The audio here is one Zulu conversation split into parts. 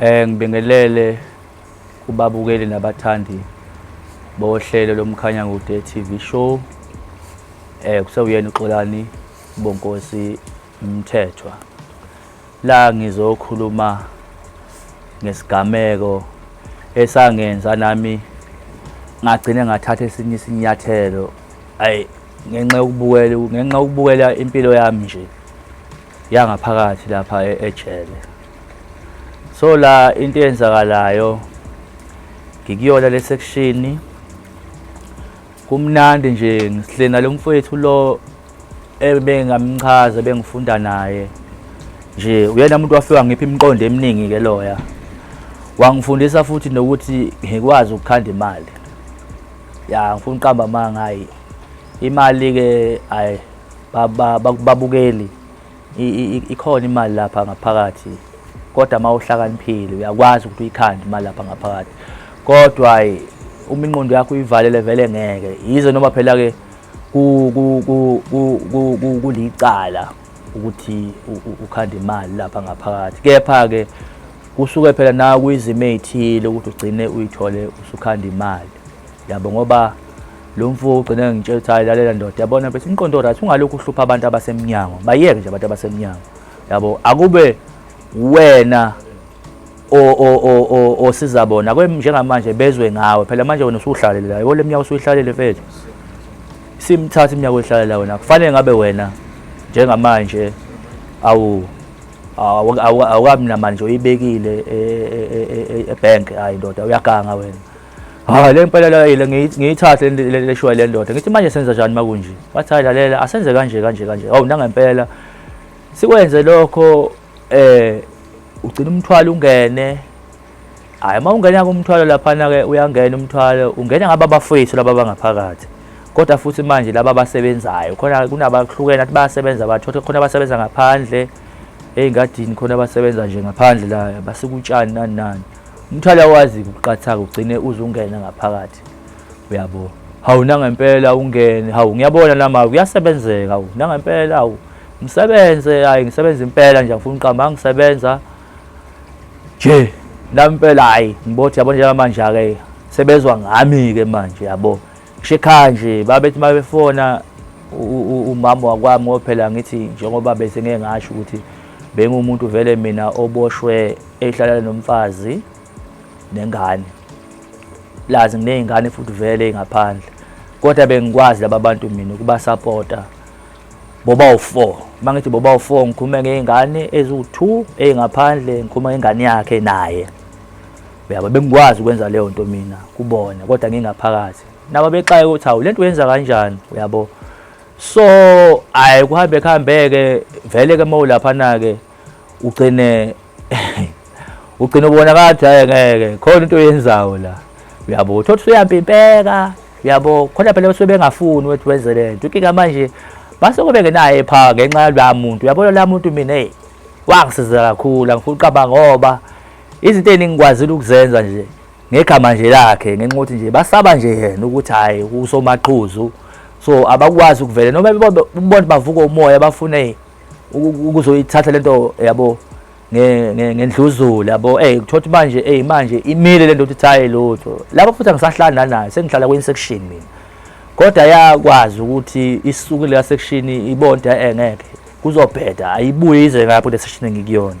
Eh ngibingelele kubabukeli nabathandi bohlelo lomkhanya ngude TV show. Eh kusewuyena uXolani Bonkosi Mthethwa. La ngizokhuluma ngesigameko esangenza nami ngagcine ngathatha esinye isinyathelo. Ayi ngenxa yokubukela ngenxa yokubukela impilo yami nje yangaphakathi lapha e-, ejele so la into eyenzakalayo ngikuyona le section kumnandi nje ngihlena lo mfowethu lo ebengamchaza bengifunda naye nje uyena umuntu wafika ngipha imiqondo eminingi ke loya wangifundisa futhi nokuthi ngikwazi ukukhanda imali ya ngifuna uqamba amanga hayi imali ke ayi babukeli ikhona imali lapha ngaphakathi kodwa uma uhlakaniphile uyakwazi ukuthi uyikhande imali lapha ngaphakathi kodwa uma inqondo yakho uyivalele vele ngeke yize noma phela-ke kulicala ukuthi ukhande imali lapha ngaphakathi kepha-ke kusuke phela nawe kuyizimo ey'thile ukuthi ugcine uyithole usukhanda imali yabo ngoba lo mfo ugcine ngitshela ukuthi hayi lalela ndoda yabona bethi umqondo right ungalokhu uhlupha abantu abasemnyango bayeke nje abantu abasemnyango yabo akube wena osiza bona njengamanje bezwe ngawe phela manje wena usuhlalele la yole mnyaka usuyihlalele mfethu simthatha iminyaka oyihlalela wena kufanele ngabe wena njengamanje awu awukabi namali nje uyibekile ebhenki e, e, e, hayi ndoda uyaganga wena hayi le mpela layile ngiyithathe le shwa le ndoda ngithi manje senza njani makunje wathi hayi lalela asenze kanje kanje kanje hawu nangempela sikwenze lokho eh ugcina umthwalo ungene hayi uma ungena kumthwalo laphana-ke uyangena umthwalo ungena ngaba bafowethu laba bangaphakathi kodwa futhi manje laba abasebenzayo khona kunabahlukene athi bayasebenza bathothi khona abasebenza ngaphandle ey'ngadini khona abasebenza nje ngaphandle la basikutshani nani nani umthwalo awazi kuqathaka ugcine uzungena ngaphakathi uyabo hawu nangempela ungene hawu ngiyabona lama kuyasebenzeka hawu nangempela hawu ngisebenze hayi ngisebenza impela nje ngifuna uqamba ngisebenza nje nampela hayi ngibothi yabo njengamanje ake sebezwa ngami ke manje yabo Shekha nje babethi mabefona umama wakwami ngoba phela ngithi njengoba bese ngeke ngasho ukuthi bengumuntu vele mina oboshwe ehlala nomfazi nengane lazi nginey'ngane futhi vele ngaphandle kodwa bengikwazi laba bantu mina ukubasapota boba u-four uma ngithi boba u-four ngikhume ngey'ngane eziwu-two ey'ngaphandle ngikhume ngengane yakhe naye uyabo bengikwazi ukwenza leyo nto mina kubona kodwa ngingaphakathi nabo bexaye ukuthi hawu lento uyenza kanjani uyabo so hayi kuhambe kuhambeke vele ke uma ulaphana-ke ugcine ugcine ubona kathi hayi ngeke khona into oyenzayo la uyabo thothi suyampimpeka uyabo khona phela basuke bengafuni ukuthi wenze le nto inkinga manje basuke bengenayo epha ngenxa yaloya muntu uyabona la muntu mina eyi wangisiza kakhulu angifuni uqaba ngoba izinto eziningi ngikwazile ukuzenza nje ngegama nje lakhe ngenxa ukuthi nje basaba nje yena ukuthi hhayi usomaqhuzu so abakwazi ukuvele noma bebona bavuka umoya bafune ukuzoyithatha le nto yabo ngendluzulu yabo ey kuthothi manje ey manje imile le nto ukuthi hhayi lutho lapho futhi angisahlali nanayo sengihlala kwenye section mina kodwa yakwazi ukuthi isuke leya section ibonda engeke kuzobheda ayibuye ize ngapho le section engikuyona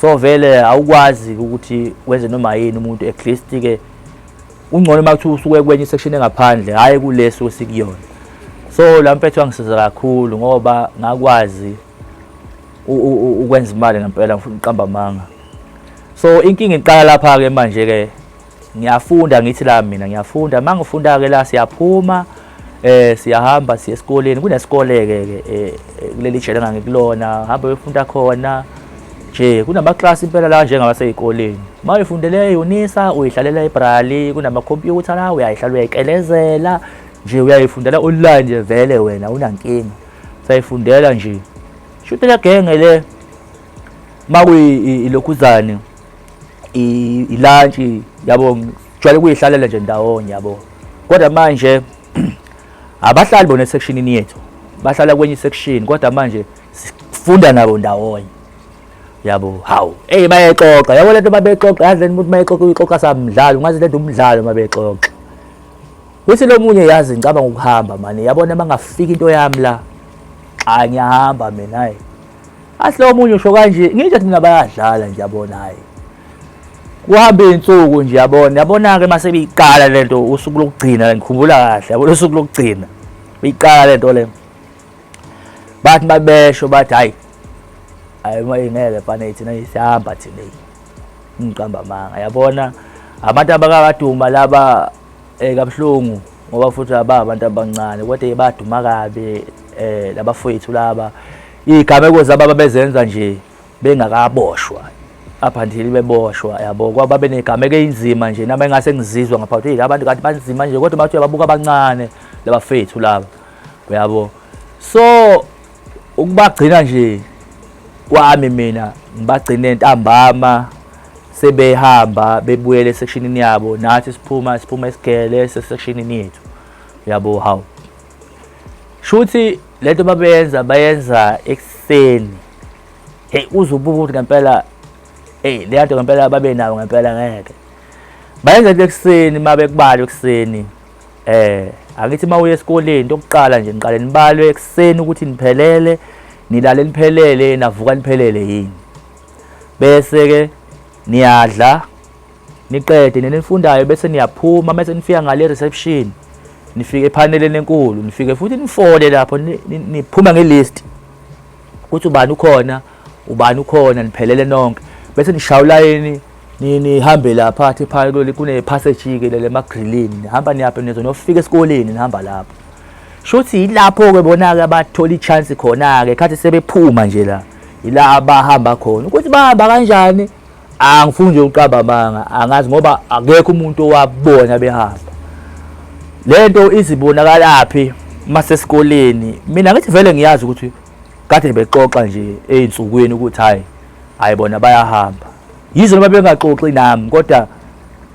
so vele awukwazi ukuthi wenze noma yini umuntu at least ke ungcono uma kuthiwa usuke kwenye isection engaphandle hhayi kulesi osikuyona so la mpethu wangisiza kakhulu ngoba ngakwazi ukwenza imali ngempela ngifuna uqamba amanga so inkinga iqala lapha-ke manje-ke ngiyafunda ngithi la mina ngiyafunda uma ngifunda ke la siyaphuma eh siyahamba siya esikoleni kunesikole ke ke eh, eh, kuleli jele ngangikulona hamba uyofunda khona nje kunama class impela la njengaba seyikoleni uma uyifundele eyunisa uyidlalela ebrali kunama computer la uyayidlala uyayikelezela nje uyayifundela online nje vele wena unankinga sayifundela nje shuthi la genge le makuyi ilokhuzane ilantshi yabo jwale kuyihlalela nje ndawonye yabo kodwa manje abahlali bona esekshinini yethu bahlala kwenye isection kodwa manje sifunda nabo ndawonye yabo hawu eyi bayexoxa yabo lento babexoxa yazi lento umuntu mayexoxa uyixoxa samdlalo ungazi lento umdlalo mabexoxa kuthi lo munye yazi ngicabanga ukuhamba mani yabona bangafika into yami la cha ngiyahamba mina hayi Athi lowo omunye usho kanje, ngisho thina bayadlala nje yabona hayi. Kuhamba izinsuku nje yabona, yabona-ke uma sebiyiqala le nto usuku lokugcina ngikhumbula kahle, yabona usuku lokugcina. Biyiqala le nto le. Bathi babesho bathi hayi hayi uma ingeke fane thina isihamba thina ngiqamba amanga yabona abantu abakakaduma laba eh kabuhlungu ngoba futhi aba abantu abancane kodwa baduma kabi eh labafowethu laba igameko zaba babezenza nje bengakaboshwa up until beboshwa yabo kwaba benegameko einzima nje nami engase ngizizwa ngaphathwe yilabantu kanti banzima nje kodwa bathi uyababuka abancane labafethu laba uyabo so ukubagcina nje kwami mina ngibagcine ntambama sebehamba bebuyele esekshinini yabo nathi siphuma siphuma esigele sesekshinini yethu yabo hawu shuthi lento babeyenza bayenza ekuseni hey uzobuka ukuthi ngempela hey le nto ngempela babe nawo ngempela ngeke bayenza into ekuseni uma bekubala ekuseni Eh akithi uma uye esikoleni into yokuqala nje niqale nibalwe ekuseni ukuthi niphelele nilale niphelele navuka niphelele yini bese ke niyadla niqede nina nifundayo bese niyaphuma mase nifika ngale reception nifike ephaneleni enkulu nifike futhi nifole lapho niphume ngelist ukuthi ubani ukhona ubani ukhona niphelele nonke bese nishaya ulayini nihambe lapha athi phaya kuleli kune-passage ke lele emagrilini nihamba niyaphe nizo nofika esikoleni nihamba lapho shuthi yilapho-ke bona-ke abathola i-chance khona-ke khathi sebephuma nje la yila abahamba khona ukuthi bahamba kanjani angifuni nje uqaba amanga angazi ngoba akekho umuntu owabona behamba le nto izibonakalaphi masesikoleni mina ngithi vele ngiyazi ukuthi kade bexoxa nje ezinsukwini ukuthi hayi hayi bona bayahamba yizo noma bengaxoxi nami kodwa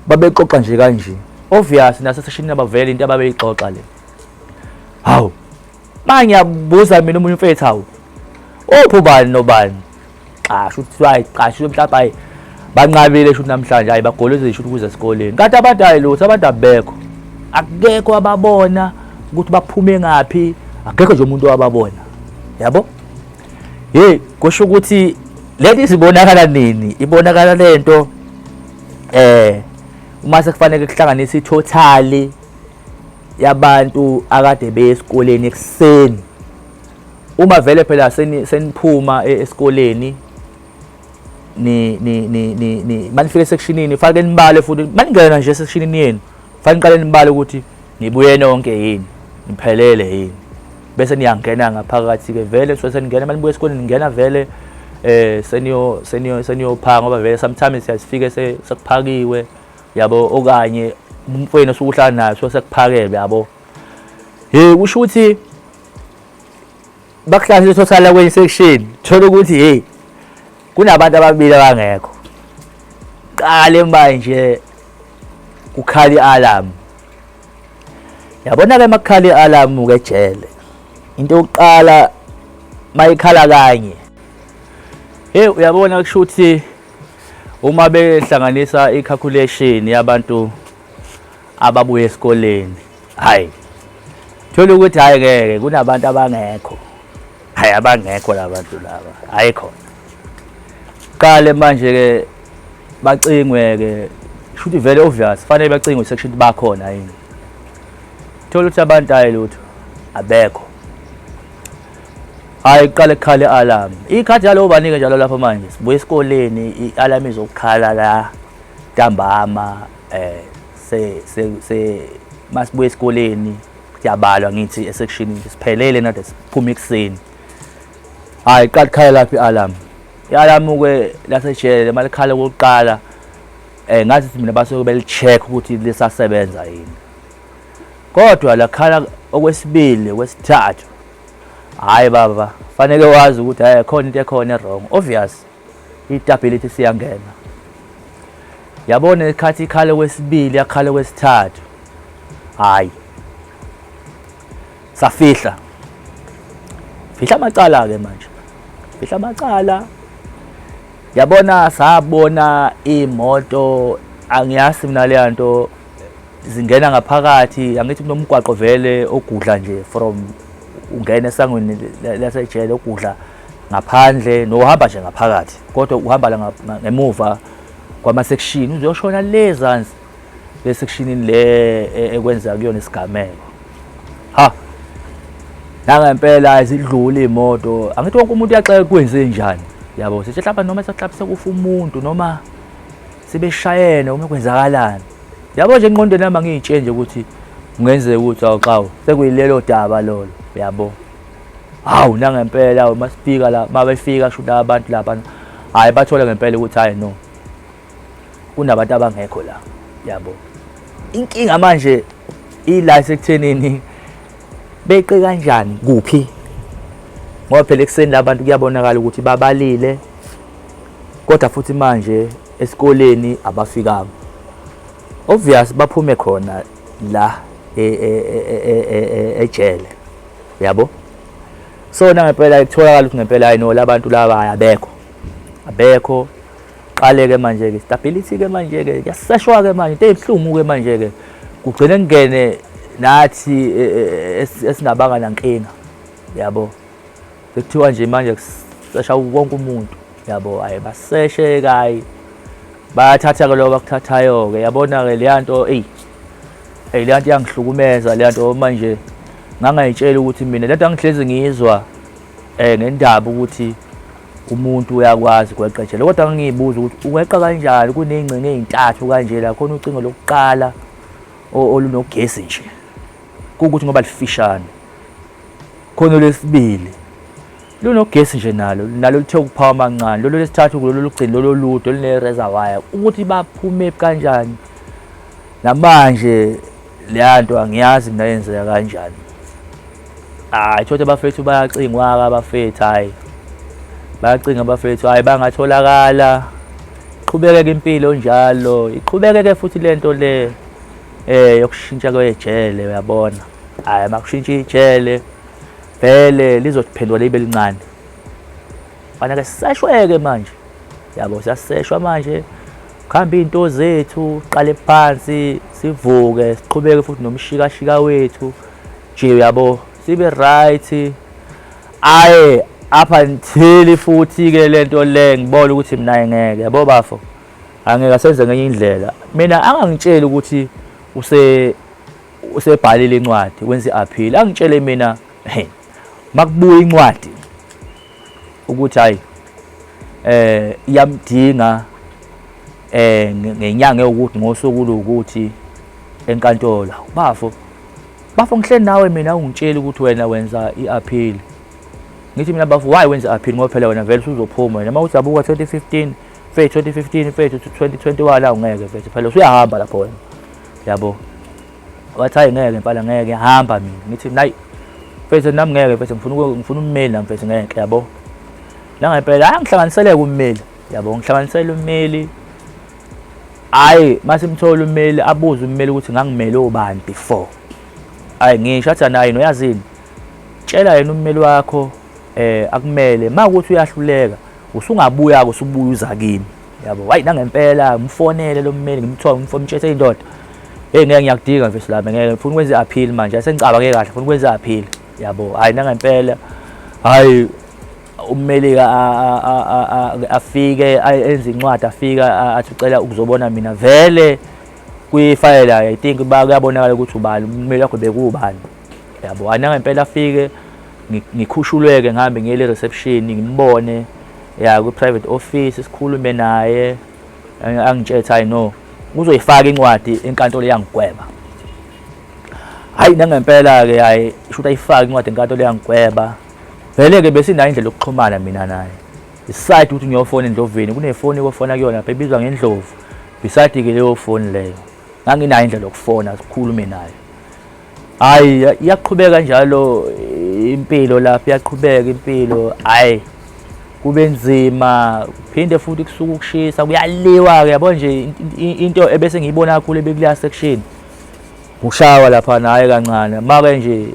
babexoxa nje kanje obvious naseseshini abavele into ababeyixoxa le hawu mangiyabuza mina umunye umfethu hawu uphi ubani nobani xa shuthi kuthiwa hayi xa shuthi mhlawumbe hayi banqabile shuthi namhlanje hayi bagolozile shuthi ukuze esikoleni kanti abantu hayi lutho abantu abekho akekho ababona ukuthi baphume ngaphi akekho nje umuntu owababona yabo hey kusho ukuthi lento izibonakala nini ibonakala lento eh uma sekufanele kuhlanganise ithotali yabantu akade beye esikoleni ekuseni Uma vele phela seniphuma e-, esikoleni ni ni ni ni ni manifike sectionini fake nibale futhi maningena nje sectionini yenu fake niqale nibale ukuthi nibuye nonke yini niphelele yini bese niyangena ngaphakathi ke vele so seningena manibuye esikoleni ningena vele eh seniyo seniyo seniyophanga ngoba vele sometimes siyasifike sekuphakiwe yabo okanye umfweni osukuhlala naye so sekuphakelwe yabo hey kusho ukuthi bakuhlahla uthothana kwenye section thola ukuthi hey kunabantu ababili abangekho qale manje ukhala i-alarm yabona-ke uma kukhala i-alarm uke ejele into yokuqala mayikhala kanye hey uyabona kusho ukuthi uma behlanganisa i-calculation yabantu ababuye esikoleni hayi thola ukuthi hayi ngeke kunabantu abangekho hayi abangekho labantu laba hayi khona qale manje ke bacingwe ke shuthi vele obvious fanele bacingwe section bakhona yini thola ukuthi abantu hayi lutho abekho hayi qale khale alarm ikhathi yalowo banike njalo lapha manje sibuye esikoleni i-alarm izokukhala la Ntambama eh se se masibuya esikoleni kuyabalwa ngithi esekishini siphelele nade siphuma ekuseni hayi qala khala laphi alarm i-alarm ke lasejele malikhala kokuqala eh ngathi mina basuke belicheck ukuthi lisasebenza yini kodwa lakhala okwesibili kwesithathu hayi baba fanele wazi ukuthi hayi khona into ekhona wrong obvious itabhilithi siyangena yabona ikhathi ikhale kwesibili yakhale kwesithathu hayi safihla fihla amacala ke manje fihla amacala yabona sabona imoto angiyazi mina leya nto zingena ngaphakathi angithi kunomgwaqo vele ogudla nje from ungena esangweni lasejele ogudla ngaphandle nohamba nje ngaphakathi kodwa uhamba la ngemuva kwamasekishini uzoshona le zansi lesekshinini le e, ekwenza kuyona isigameko ha nangempela izidlule imoto angithi wonke umuntu uyaxeka kwenze njani yabo sithi hlaba noma saxabise kufa umuntu noma sibeshayene uma kwenzakalani yabo nje enqondweni yami angiyitshe nje ukuthi kungenzeka ukuthi awuxawu sekuyilelo daba lolo yabo hawu nangempela uma sifika la uma befika shuthi abantu laba hhayi bathole ngempela ukuthi hhayi no kunabantu abangekho la yabo inkinga manje ila isekuthenini beqe kanjani kuphi ngoba phela ekuseni labantu kuyabonakala ukuthi babalile kodwa futhi manje esikoleni abafikanga obvious baphume khona la ejele e, e, e, yabo so nangempela kutholakala ukuthi ngempela hayi no labantu laba hayi abekho abekho qale-ke manje-ke stability-ke manje-ke kuyaseshwa-ke manje into eyibuhlungu-ke manje-ke kugcine kungene nathi e, e, e, esingabanga nankinga yabo sekuthiwa nje manje kusesha wonke umuntu yabo hayi baseshe kayi bayathatha-ke lobo bakuthathayo-ke yabona-ke leya nto eyi eyi leyanto iyangihlukumeza leyanto manje ngangayitshela ukuthi mina lento angihlezi ngiyizwa eh ngendaba ukuthi umuntu uyakwazi kweqetshela kodwa ngiyibuza ukuthi ukweqa kanjani kuney'ngcingo ey'ntathu kanje la khona ucingo lokuqala olunogesi nje kuwukuthi ngoba lifishane khona olwesibili lunogesi nje nalo nalo lithe ukuphawa amancane lolo lesithathu kulolo lugcini lolo lude olune-razor wire ukuthi baphume kanjani namanje leya nto angiyazi mina yenzeka kanjani hayi thothi abafethu bayacingwa-ke abafethu hhayi bayacinga abafethu hhayi bangatholakala iqhubekeke impilo njalo iqhubekeke futhi le nto le um yokushintsha kwejele uyabona hhayi makushintsha ijele vele lizotiphendwa libe lincane fana ke sisashweke manje yabo siyaseshwa manje kuhamba iy'nto zethu qale phansi sivuke siqhubeke futhi nomshikashika wethu nje yabo sibe right aye up until futhi-ke le nto le ngibona ukuthi mina ngeke yabo bafo angeke asenze ngenye indlela mina angangitsheli ukuthi use usebhalile incwadi wenza i-appeal angitshele mina hey makubuya incwadi ukuthi hayi eh iyamdinga eh ngenyanga yokuthi ngosuku lokuthi enkantolo bafo bafo ngihleli nawe mina ungitshela ukuthi wena wenza i-appeal ngithi mina bafo why wenza i-appeal ngoba phela wena vele usuzophuma wena uma uthi abuka 2015 fethu 2015 fethu 2021 la ungeke fethu phela usuyahamba lapho wena yabo wathi hayi ngeke mfana ngeke hamba mina ngithi nayi mfethu nami ngeke mfethu ngifuna ngifuna ummeli nami mfethu ngeke yabo la ngempela hayi ngihlanganiseleke ummeli yabo ngihlanganisela ummeli hayi masimthola ummeli abuze ummeli ukuthi ngangimele obani before hayi ngisho athi naye noyazini tshela yena ummeli wakho eh akumele makuthi uyahluleka usungabuya-ke usubuya uza kimi yabo wayi nangempela ngimfonele lo mmeli ngimthole ngimfomtshese indoda hey ngeke ngiyakudinga mfethu lami ngeke ngifuna ukwenza i-appeal manje asengicabange kahle ngifuna ukwenza i-appeal yabo hayi nangempela hayi ummelika afike enze incwadi afika athi ucela ukuzobona mina vele kwifayela i think kuyabonakala ukuthi ubani ummeli wakho bekuwubani yabo anangempela afike ngikhushuleke ngihambe ngiyele reception ngimbone ya kwi-private office sikhulume naye angitshele ukuthi hayi no uzoyifaka incwadi enkantolo eyangigweba hayi nangempela-ke hayi isho ukuthi ayifake incwadi enkantolo eyangigweba vele-ke besinayo indlela yokuxhumana mina naye iside ukuthi ngiyofona endloveni kunefoni kofona kuyona lapha ebizwa ngendlovu beside-ke leyo foni leyo nganginayo indlela yokufona sikhulume naye hayi iyaqhubeka njalo impilo lapho iyaqhubeka impilo hayi kube nzima phinde futhi kusuka ukushisa kuyaliwa ke yabo nje into ebese ngiyibona kakhulu ebekuleya section ushawa lapha naye kancane make nje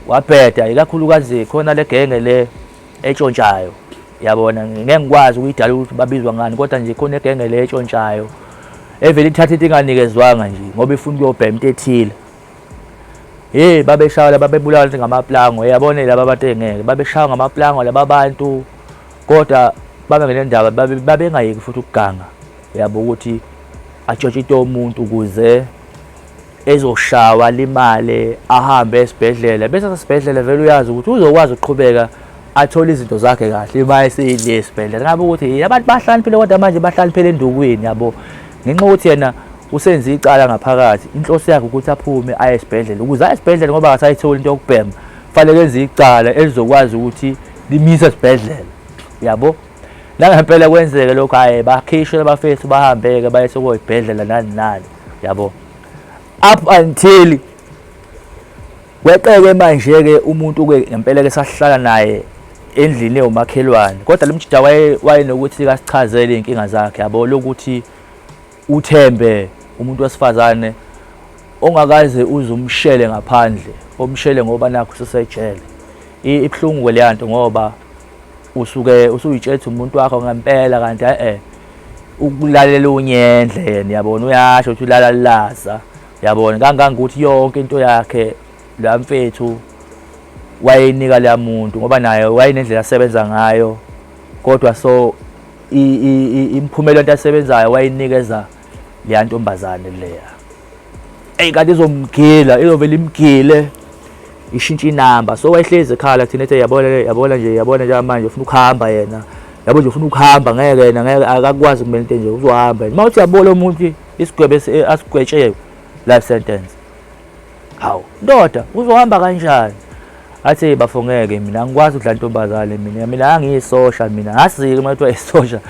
wabheda ikakhulukazi khona legenge le etshontshayo yabona ngeke ngikwazi ukuyidala ukuthi babizwa ngani kodwa nje khona egenge le etshontshayo evele ithatha into inganikezwanga nje ngoba ifuna ukuyobhema into ethile hey babeshawa laba bebulawa ngamaplango yabona laba abantu engeke babeshawa ngamaplango laba bantu kodwa babe ngenendaba babengayeki futhi ukuganga yabo ukuthi atshotshite umuntu ukuze ezoshawa limale ahambe esibhedlela bese sasibhedlela vele uyazi ukuthi uzokwazi ukuqhubeka athole izinto zakhe kahle uma eseyidle esibhedlela ngabe ukuthi abantu bahlaniphile kodwa manje bahlaniphele endukwini yabo ngenxa ukuthi yena usenze icala ngaphakathi inhloso yakhe ukuthi aphume aye esibhedlela ukuze aye esibhedlela ngoba akasayitholi into yokubhema fanele enze icala elizokwazi ukuthi limisa esibhedlela yabo nangempela kwenzeke lokho hayi bakhishwe abafethu bahambeke baye sokoyibhedlela nani nani yabo up until weqeke manje ke umuntu ke ngempela ke sahlala naye endlini ewumakhelwane kodwa lemjida waye wayenokuthi kasichazele inkinga zakhe yabo lokuthi uthembe umuntu wesifazane ongakaze uze umshele ngaphandle omshele ngoba nakho sesejele ibhlungu leyanto ngoba usuke usuyitshetha umuntu wakho ngempela kanti e-e ukulalela unyendle yena yabona uyasho ukuthi ulalalaza yabona kangangokuthi yonke into yakhe la mfethu wayeyinika leya muntu ngoba naye wayenendlela asebenza ngayo kodwa so imiphumela into asebenzayo wayinikeza leya ntombazane leya eyi kanti izomgila izovele imgile ishintshe inamba so wayehlezi ekhala thina ethe yabona yabona nje yabona nje manje ufuna ukuhamba yena yabo nje ufuna ukuhamba ngeke yena ngeke akakwazi kumele into nje uzohamba yena uma uthi yabona umuntu isigwebo asigwetshewe life sentence hawu ndoda uzohamba kanjani athi hey bafo ngeke mina angikwazi ukudla ntombazane mina mina angiyisosha mina ngasike uma kuthiwa isosha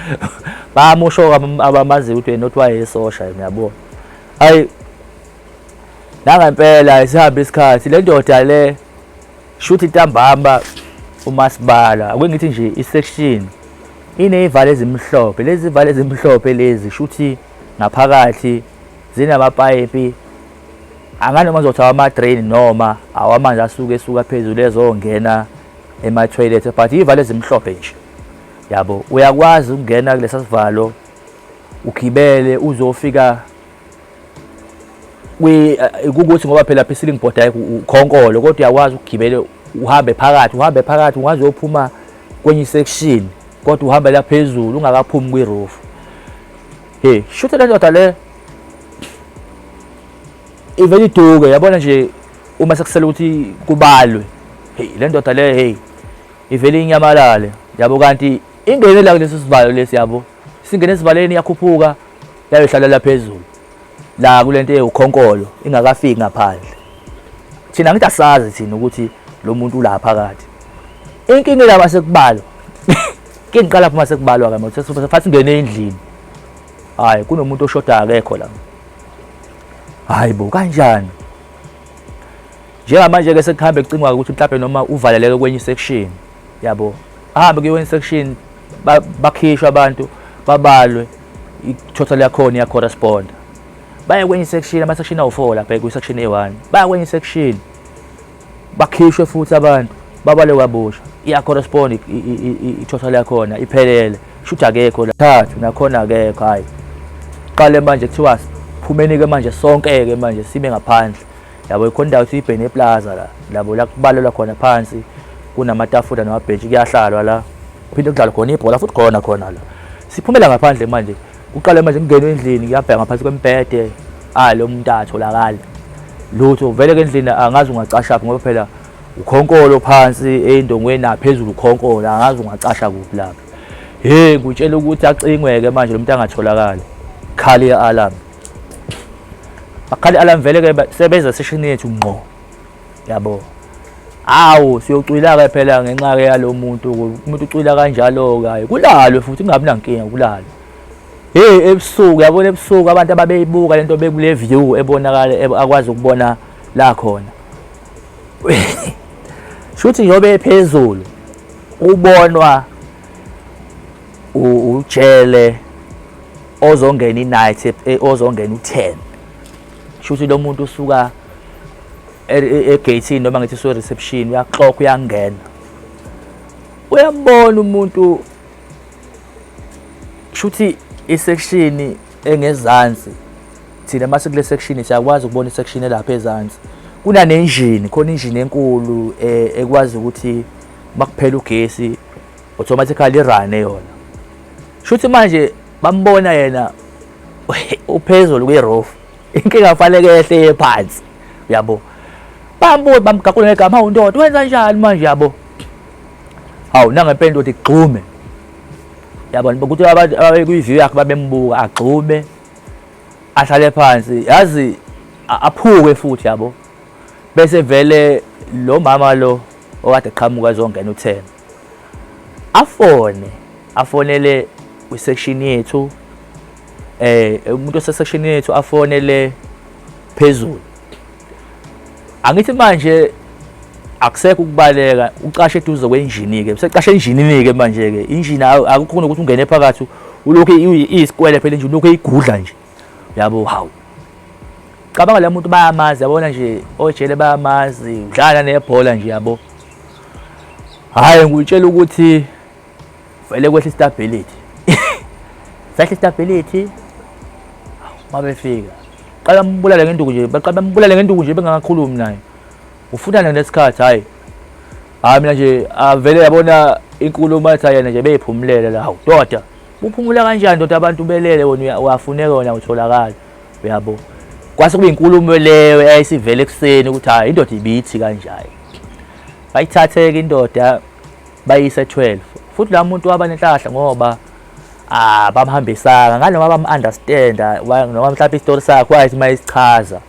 bamusho abamazi ukuthi yena kuthiwa yisosha ngiyabona hayi nangempela isihamba isikhathi le ndoda le shuthi intambamba umasibala ake ngithi nje isection ineyivalo ezimhlophe lezi valo ezimhlophe lezi shuthi ngaphakathi zinamapayipi anganoma ngizothi awama-drain noma awamanzi asuke esuka phezulu ezongena ema-toilet but iy'valo ezimhlophe nje yabo uyakwazi ukungena kulesa sivalo ugibele uzofika eh, kukuthi ngoba phela pha i-ceiling board ayikho ukhonkolo kodwa uyakwazi ukugibele uhambe phakathi uhambe phakathi ungaze uyophuma kwenye isection kodwa uhambela phezulu ungakaphumi kwi-roof Hey, shutha le ndoda le. Ivele iduke yabona nje uma sekusela ukuthi kubalwe. Hey, le ndoda le hey. Ivele inyamalale. Yabo kanti ingene la kulesi sivalo lesi yabo. Singene esivaleni yakhuphuka yayohlala la phezulu. La kulento eyukhonkolo ingakafiki ngaphandle. Thina ngithi asazi thina ukuthi lo muntu ulapha kathi. Inkinga laba sekubalwa. ke ngiqala phuma sekubalwa ke manje sifuna singene endlini hayi kunomuntu oshoda akekho la hayi bo kanjani njengamanje ke sekuhambe kucingwa ukuthi mhlawumbe noma uvaleleke kwenye section yabo ahambe kwenye section bakhishwa abantu babalwe i-total yakhona iyacorrespond baye kwenye section ama-section awu-four lapha kwi-section eyi-one baya kwenye section bakhishwe futhi abantu babale kwabusha iya-correspond i-total yakhona iphelele shuthi akekho thathu nakhona akekho hhayi qale manje kuthiwa phumeni-ke manje sonke-ke manje sibe ngaphandle yabo ikhona indawo kuthiwa ibhene eplaza la labo la kubalelwa khona phansi kunamatafula namabhentshi kuyahlalwa la kuphinde kudlalwe khona ibhola futhi khona khona la siphumela ngaphandle manje Kuqale manje kungena endlini kuyabheka ngaphansi kwembhede ah lo muntu atholakala lutho vele ke endlini angazi ungacasha phi ngoba phela ukhonkolo phansi endongweni naphezulu ukhonkolo angazi ungacasha kuphi lapho hey ngutshela ukuthi acingweke manje lo muntu angatholakali khali i-alarm bakhali i-alarm vele ke sebeza session yethu ngqo yabo awu siyocwila-ke phela ngenxa-ke yalo muntu umuntu ucwila kanjalo-ke kulalwe futhi kungabi nankinga kulalwe heyi ebusuku yabona ebusuku abantu ababeyibuka le nto bekule view ebonakala akwazi ukubona la khona shuthi njengoba ephezulu ubonwa ujele ozongena i-night e, ozongena u-ten shuthi lo muntu usuka e, e, egate noma ngithi so reception uyaxoka uyangena uyambona umuntu shuthi isection engezansi thina mase kule section siyakwazi ukubona isection elapha ezansi kunanenjini khona injini enkulu e, ekwazi ukuthi makuphela ugesi automatically irane yona shuthi manje bambona yena uphezulu kwi-roof inkinga kufanele yehle ye phansi uyabo bambuye bamgaqule ngegama hawu ndoda wenza njani manje yabo hawu nangempela ukuthi gxume yabona ukuthi abantu ababekwi-view yakhe babembuka agxume ahlale phansi yazi aphuke futhi yabo bese vele lo mama lo okade qhamuka ezongena uthemba afone afonele kwisection yethu eh umuntu osesection yethu afonele phezulu angithi manje akusekho ukubaleka ucashe eduze kwenjini ke usecashe enjinini ke manje ke injini akukho ukuthi ungene phakathi ulokhu iyisikwele phela injini lokhu eyigudla nje yabo hawu cabanga la muntu bayamazi yabona nje ojele bayamazi udlala nebhola nje yabo hhayi ngikutshela ukuthi vele kwehla istability sehla istability uma befika qala mbulale ngenduku nje baqala mbulale ngenduku nje bengakakhulumi naye ufuna nje lesikhathi hayi hayi mina nje avele yabona inkulumo athi yena nje beyiphumulele la awudoda Uphumula kanjani ndoda abantu belele wena uyafuneka wena utholakala uyabo kwase kube inkulumo leyo eyayisivele ekuseni ukuthi hayi indoda ibithi kanjani bayithatheke indoda bayise 12 futhi la muntu waba nenhlahla ngoba ah bamhambisanga nganoma bamunderstanda noma mhlawumbe istory sakhe wayithi mayisichaza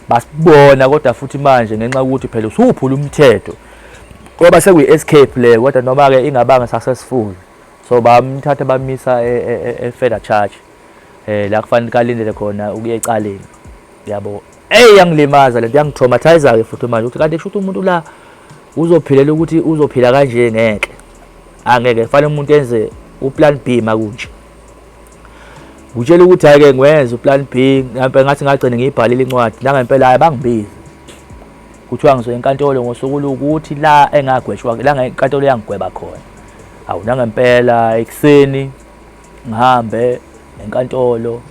basibona kodwa futhi manje ngenxa ukuthi phela usuphula umthetho ngoba sekuyi-escape le kodwa noma-ke ingabanga successful so bamthatha bamisa e-further e, e, charge um la kufanele kalindele khona ukuya ecaleni yabo eyi yangilimaza le nto yangitraumathiza-ke futhi manje ukuthi kanti kusho ukuthi umuntu la uzophilela ukuthi uzophila kanje ngeke angeke kufanele umuntu enze uplan b makunje ngitshela ukuthi hhayi-ke ngiwenze uplan b ngathi ngagcine ngiyibhalile incwadi nangempela hhayi bangibizi kuthiwa ngizoya enkantolo ngosuku lukuthi la engagwetshwa la ngenkantolo yangigweba khona awu nangempela ekuseni ngihambe enkantolo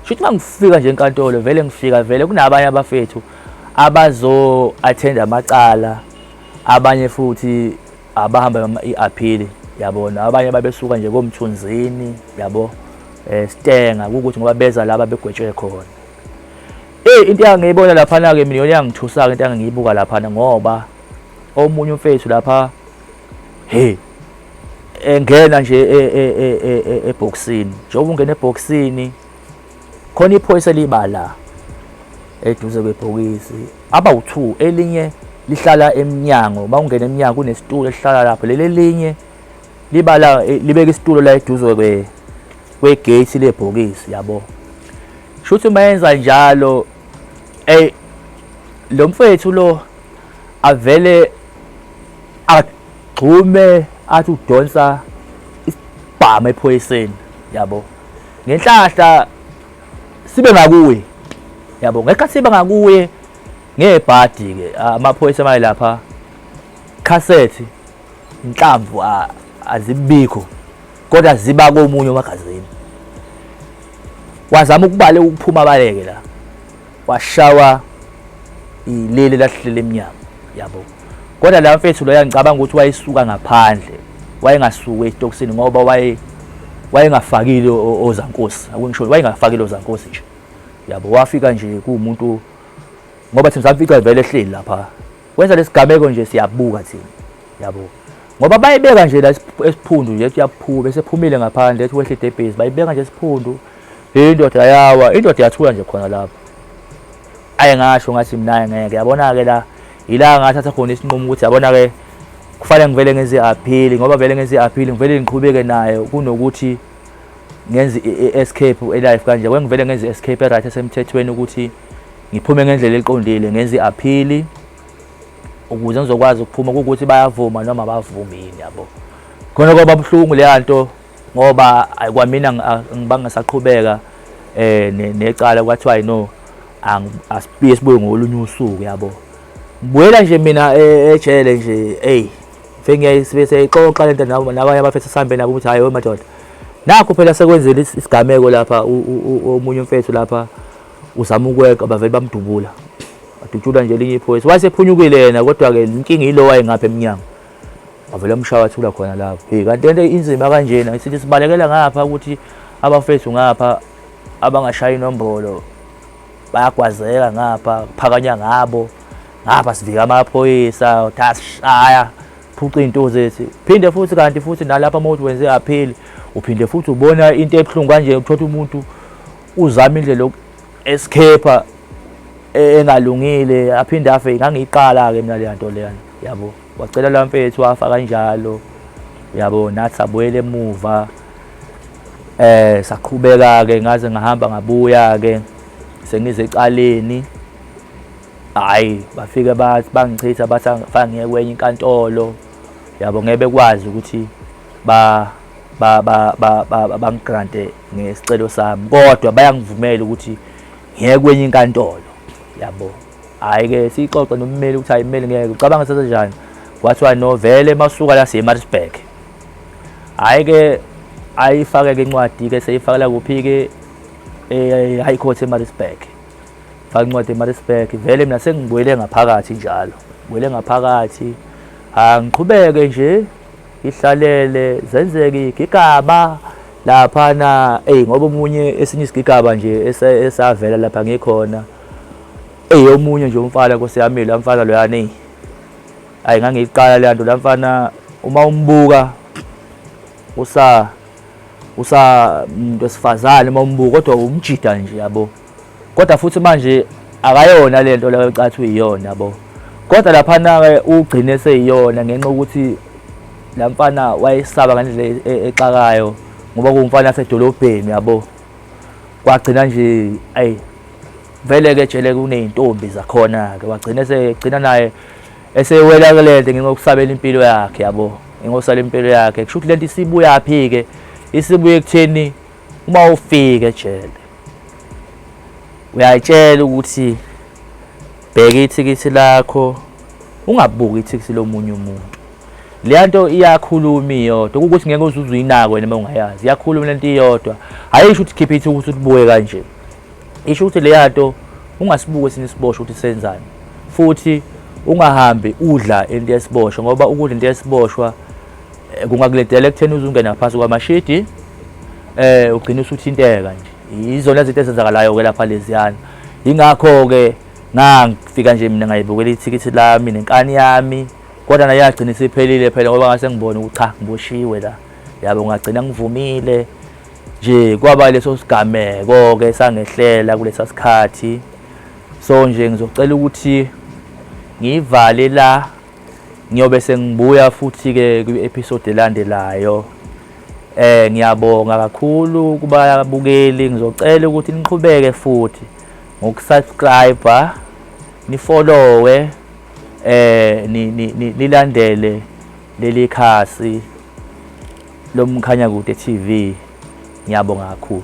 shuthi mangifika nje enkantolo vele ngifika vele kunabanye abafethu abazo attend amacala abanye futhi abahamba i-appeal yabona abanye babesuka nje komthunzini yabo eh stenga ukuthi ngoba beza laba begwetshwe khona Hey into engangiyibona lapha na ke mina yona yangithusa ke into engangiyibuka lapha na ngoba omunye umfethu lapha hey engena nje e, e, e, ebhoksini njengoba ungena ebhoksini khona iphoyisa elibala eduze kwebhokisi aba u2 elinye lihlala emnyango uma ungena emnyango kunesitulo esihlala lapho leli elinye libala libeka isitulo la eduze kwe kwegate lebhokisi yabo Shuthi mayenza njalo ey lo mfethu lo avele agxume athi udonsa isibhamu ephoyiseni yabo ngenhlahla sibe ngakuye yabo ngekhathi sibe ngakuye ngebhadi ke amaphoyisa mayelapha cassette inhlamvu azibikho kodwa ziba komunye umagazini wazama ukubale ukuphuma abaleke la washawa ilele lahlele emnyama yabo kodwa la mfethu lo yangicabanga ukuthi wayesuka ngaphandle wayengasuki esitokisini ngoba waye wayengafakile ozankosi akungisho wayengafakile ozankosi nje yabo wafika nje kuwumuntu ngoba thina samfica vele ehleli lapha Wenza lesigameko nje siyabuka thina. Yabo. Ngoba bayibeka nje la esiphundu nje ethi yaphuka bese phumile ngaphandle ethi wehle debhezi bayibeka nje esiphundu. Indoda yawa, indoda yathula nje khona lapho. Ayi ngasho ngathi mina ngeke yabona ke la ila ngathatha khona isinqumo ukuthi yabona ke kufanele ngivele ngenze appeal ngoba vele ngenze appeal ngivele ngiqhubeke naye kunokuthi ngenze escape elife kanje kwengivele ngenze escape right esemthethweni ukuthi ngiphume ngendlela eqondile ngenze i-aphili ukuze ngizokwazi ukuphuma ukuthi bayavuma noma bavumi yini yabo khona kwaba buhlungu leya nto ngoba kwamina ngibanga saqhubeka eh necala kwathiwa no asibuye sibuye ngolunye usuku yabo ngibuyela nje mina e, ejele nje hey fengiyaye sibe seyixoxa lento nabo nabanye abafethu sihambe nabo ukuthi hayi wemadoda nakho phela sekwenzile isigameko lapha omunye umfethu lapha uzama ukweqa bavele bamdubula adutshulwa nje elinye iphoyisa wayesephunyukile yena kodwa-ke inkinga yilo wayengapha emnyango avele amshaya athula khona lapho hey kanti lento inzima kanjena sithi sibalekela ngapha ukuthi abafethu ngapha abangashaya inombolo bayagwazeka ngapha kuphakanya ngabo ngapha sivika amaphoyisa thasishaya phuca iy'nto zethu phinde futhi kanti futhi nalapha uma uthi wenze apheli uphinde futhi ubona into ebuhlungu kanje uthotha umuntu uzama indlela yoku escape e, engalungile aphinde afe ngangiyiqala ke mina le nto leyana yabo wacela la mfethu wafa kanjalo yabo nathi sabuyela emuva eh saqhubeka ke ngaze ngahamba ngabuya ke sengize ecaleni hayi bafike bathi bangichitha bathi fangiye kwenye inkantolo yabo ngeke bekwazi ukuthi ba ba ba ba bangigrante ngesicelo sami kodwa bayangivumela ukuthi ngeke kwenye inkantolo yabo hayi ke sixoxe nommeli ukuthi hayi mmeli ngeke ucabanga sase njani kwathiwa no vele masuka la siyeMaritzburg hayi ke ayifake ke incwadi ke seyifakela kuphi ke eh, high court eMaritzburg faka incwadi eMaritzburg vele mina sengibuyele ngaphakathi njalo ngibuyele ngaphakathi ha ngiqhubeke nje ihlalele zenzeke igigaba laphana eyi ngoba omunye esinye isigigaba nje esavela lapha ngikhona eyi omunye nje umfana nkosi yami la mfana loyana eyi ayi ngangiyiqala leya nto la mfana uma umbuka usa usa muntu wesifazane uma umbuka kodwa umjida nje yabo kodwa futhi manje akayona le nto leyo cathi uyiyona bo kodwa laphana-ke ugcine seyiyona ngenxa yokuthi la mfana wayesaba ngendlela e-, e-, exakayo ngoba kuwumfana asedolobheni yabo kwagcina nje ayi vele-ke jele kuney'ntombi zakhona-ke wagcina esegcina naye esewela kule nto ngenxa yokusabela impilo yakhe yabo ngenxa yokusabela impilo yakhe kusho ukuthi le nto isibuyaphi-ke isibuye ekutheni uma ufika ejele uyatshela ukuthi bheka ithikithi lakho ungabuki ithikithi lomunye umuntu leya nto iyakhuluma iyodwa ukuthi ngeke uze uzuyinako wena uma ungayazi iyakhuluma le nto iyodwa hhayi isho ukuthi khiphe ithi ukuthi ulibuke kanje isho ukuthi leya nto ungasibuke esinye isibosho ukuthi senzani futhi ungahambi udla into yesiboshwa ngoba ukudla into yesiboshwa Eh, kungakuledela ekutheni uze ungene ngaphansi kwamashidi um eh, ugcine usuthinteka nje yizona zinto ezenzakalayo-ke lapha leziyana yingakho-ke ngangifika nje mina ngayibukela ithikithi lami nenkani yami kodwa naye yagcina isiphelile phela ngoba ngase ngibone ukuthi cha ngiboshiwe la yabo ngagcina ngivumile nje kwaba leso sigameko-ke sangehlela kulesa sikhathi so nje ngizocela ukuthi ngiyivale la ngiyobe sengibuya futhi ke kwi episode elandelayo eh ngiyabonga kakhulu kubabukeli ngizocela ukuthi niqhubeke futhi ngokusubscribe nifollowe eh nilandele leli khasi lomkhanya kude TV ngiyabonga kakhulu